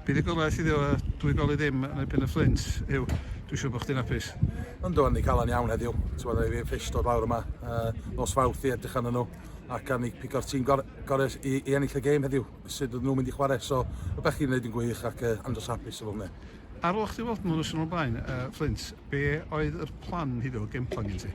Bydd y gorau sydd efo dwy goli ddim yn erbyn y Fflint yw, dwi'n siŵr bod chdi'n apus. Yn do, ni cael yn iawn heddiw. Ti'n meddwl, fi ffis dod lawr yma uh, nos fawth i edrych arnyn nhw ac am ni pigo'r tîm gorau gore i, i ennill y gêm heddiw, sut ydyn nhw'n mynd i chwarae. So, rhywbeth chi'n gwneud yn gwych ac uh, andros hapus efo hwnna. Ar ôl chdi weld nhw yn y sianel blaen, yy, Fflint, be' oedd yr plan heddiw, y game plan gen ti?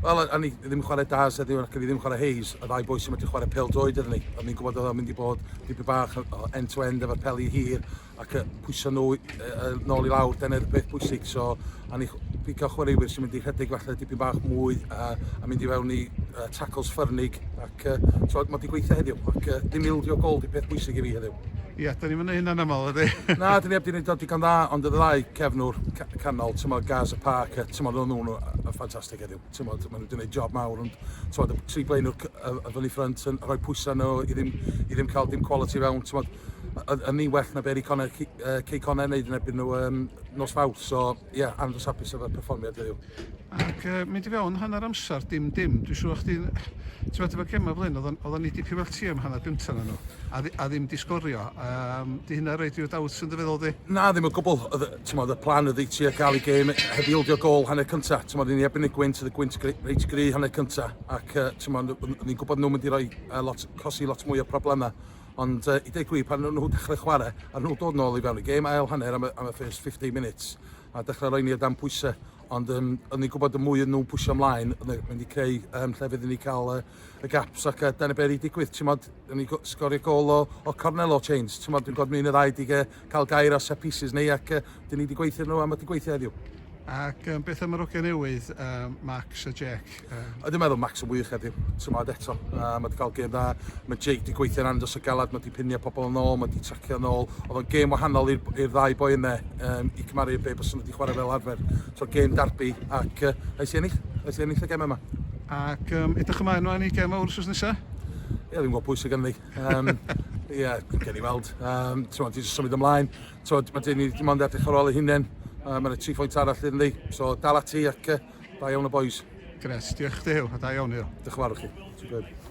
Wel, o- o'n i ddim yn chware Daz heddiw ac o'n i ddim yn chware Hayes, y ddau boi sy medru chware pêl-droed iddyn ni. O'n i'n gwbod o'dd o'n mynd i bod dipyn bach o o end to end efo'r peli hir ac yy pwyso nhw yy yy nôl i lawr, dyna oedd y peth pwysig. So, o'n i chw- pigo chwaraewyr sy'n mynd i rhedeg falle dipyn bach mwy yy a mynd i fewn i yy tackles ffyrnig ac ac yy t'mod ma' 'di gweithio heddiw ac yy dim ildio gold yw peth bwysig i fi heddiw. Ia, 'dan ni'm yn neu' hynna'n amal, ydi? Na, 'dan ni 'eb 'di neud o digon dda ond y ddau cefnwr ca- canol t'mod Gaz a Park yy t'mod o'n nw'n yy ffantastig heddiw t'mod ma' n'w 'di neud job mawr ond t'mod y tri blaenwr cy- yy y fyny ffrynt yn rhoi pwysa' ar n'w i ddim i ddim ca'l dim quality fewn t'mod o- o'dd o'n ni well na be' ry' Connor Cy- yy Cey Connor neud yn erbyn n'w yym nos Fawrth so ia andros hapus efo'r perfformiad heddiw. Ac uh, mynd i fewn hanner amser, dim dim. Dwi'n siŵr o'ch ti'n... Ti'n meddwl, efo gemau fel hyn, oedden ni wedi pum o'r tîm hanner gyntaf na nhw, a, a ddim di sgorio. Um, di hynna rhaid i'w dawt yn dy feddwl di? Na, ddim o gwbl. Ti'n meddwl, y plan ydy ti a gael i gêm heb ildio gol hanner cyntaf. Ti'n meddwl, ni ebyn y gwynt, y gwynt reit gry hanner cyntaf. Ac uh, ti'n meddwl, ni'n gwybod nhw'n mynd i roi uh, lot, cosi lot mwy o problemau. Ond uh, i dweud gwi, pan nhw dechrau chwarae, a nhw dod nôl i fewn y gêm, ail hanner am y, am y first 15 minutes, a dechrau roi ni o dan pwysau, ond um, o'n i'n gwybod y mwy yn nhw'n pwysio ymlaen, o'n i'n mynd i creu um, llefydd i ni cael uh, y gaps ac uh, dan y beri digwydd, ti'n modd, o'n i'n sgorio gol o, o Cornello Chains, ti'n modd, dwi'n gwybod mynd y ddau dig uh, cael gair o set pieces neu ac uh, dyn ni wedi gweithio nhw a mae wedi gweithio heddiw. Ac um, beth am yr oge newydd, um, Max a Jack? Ie, dwi'n meddwl Max yn wych heddiw, timod eto, uh, mae wedi cael gêm dda, mae Jake wedi gweithio'n andros o galad, mae wedi pinio pobl yn ôl, mae wedi tracio yn ôl, oedd o'n gêm wahanol i'r ddau boi yna, um, i cymaru be bys nhw wedi chwarae fel arfer, so gêm darbi, ac uh, nes i ennill, nes i ennill y gem yma. Ac um, edrych ymlaen ymlaen i gem o'r wrsos nesaf? Ie, ddim gwybod pwy sy'n ganddi. Um, ie, yeah, gen i weld. Um, ti'n mwyn, ti'n symud ymlaen. Ti'n mwyn, mae gen i ddim ond edrych ar ôl ei hunain. Uh, Mae'n y tri phwynt arall iddyn ni. So, dal ati ac uh, Da iawn y boys. Gret, diolch chdi Huw, a da iawn Huw. Diolch yn fawr i chi. Superb.